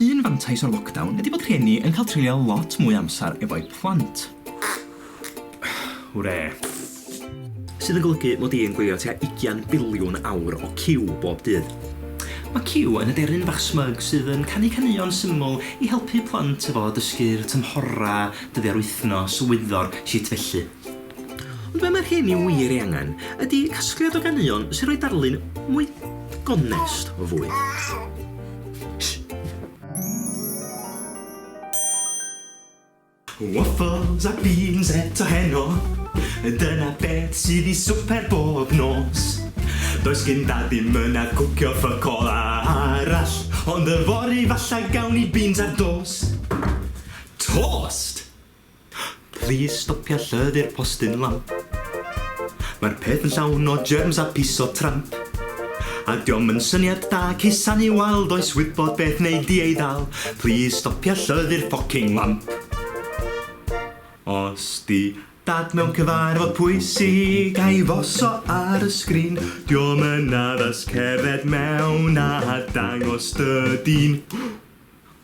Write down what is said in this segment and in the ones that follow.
Un fantais o'r lockdown ydi bod rhieni yn cael treulio lot mwy o amser efo'u plant. Hwre! Sydd yn golygu mod i yn gwylio tua ugian biliwn awr o Q bob dydd. Mae Q yn aderyn bach smug sydd yn canu caneuon syml i helpu plant efo dysgu'r tymhorau, dyddiau'r wythnos, wyddor, shit felly. Ond be' mae'r hyn i wir ei angen ydi casgliad o ganeuon sy'n rhoi darlun mwy gonest o fwyd. Waffles a beans eto heno Dyna beth sydd i swper bob nos Does gyn dad ddim yn ar cwcio ffyc all arall Ond yfory falla gawn ni beans ar dos Tost! Plîs stopia llythyr postyn lamp. Mae'r peth yn llawn o germs a pys o tramp. A 'di o'm yn syniad da cusanu wal does wybod beth wneud i ei ddal Plîs stopia llythyr ffocing lamp. Os 'di Dad mewn cyfarfod pwysig a'i foso ar y sgrin 'Di o'm yn addas cerdded mewn a dangos dy dîn.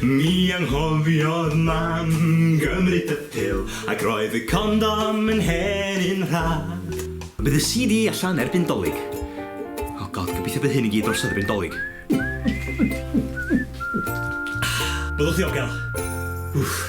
Mi anghofiodd Mam gymryd y pil ac roedd y condom yn hen un rhad. Bydd y CD allan erbyn Dolig. Oh God, gobeithio bydd hyn i gyd drosodd erbyn Dolig. Byddwch ddiogel. Wff.